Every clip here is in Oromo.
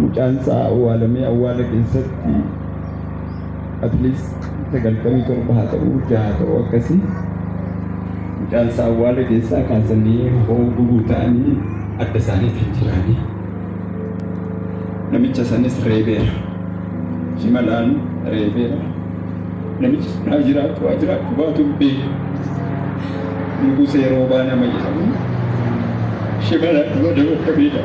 Mucaan isaa awwaalamee awwaala keessatti at least sagaltamii torba haa ta'uu jaha ta'uu akkasii mucaan isaa awwaala keessaa kaasanii hoo gubuu ta'anii adda isaaniitiin jiraanii namicha sanis reebeera shimalaan reebeera namichi sunaa jiraatu waa jiraatu baatu bee nugusee roobaa nama jedhamu shimalaan nama dabarra beedha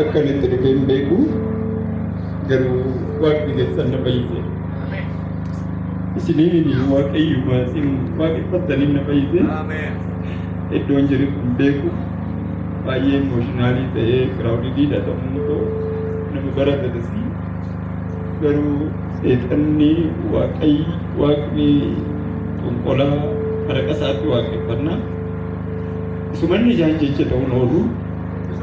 Akka inni itti dhufee hin beeku garuu waaqni keessan na fayyise. Isiniin waaqayyuma isin waaqeffattaniin na fayyise. Iddoon jiru hin beeku. Baay'ee emooshinaalii ta'ee giraawudiidha ta'uu koo nama baratatasi. Garuu seexanni waaqayyi waaqni qonqolaa maraqa isaatti waaqeffannaa. Isumanni ijaan jecha ta'uun oolu.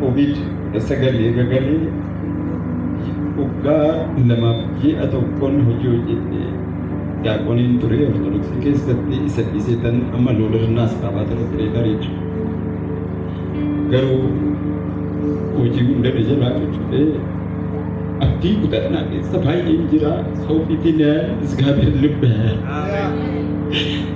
Covid kudha sagal eega galee waggaa lamaaf ji'a tokkoon hojii hojjette daaqoniin ture ortodoksii keessatti isa dhiisee tan amma loodarnaas qabaa ture pireetar jechuudha. Garuu hojii hunda na jalaa cuccufee abdii kutannaa keessa baay'een jira. Soofiitiin isgaabeer lubbe.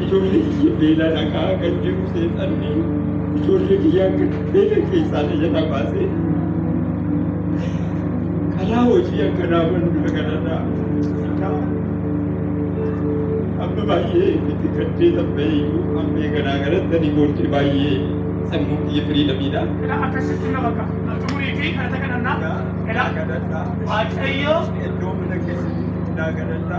Ijoollee kiyya beelaan haqaa kan jiru seexanni ijoollee kiyya akka beela keessaa na jala baasee karaa hojii akka naa banu na kadhadha. Egaa amma baay'ee itti gaddee tabbee iyyuu amma eeganaa galatti ani booddee baay'ee sammuu kiyya firii dhabidha. Egaa akkasitti nama akka xumurii fi kadhata kadhannaa. Egaa Waaqayyo Iddoo mana keessatti naa kadhadha.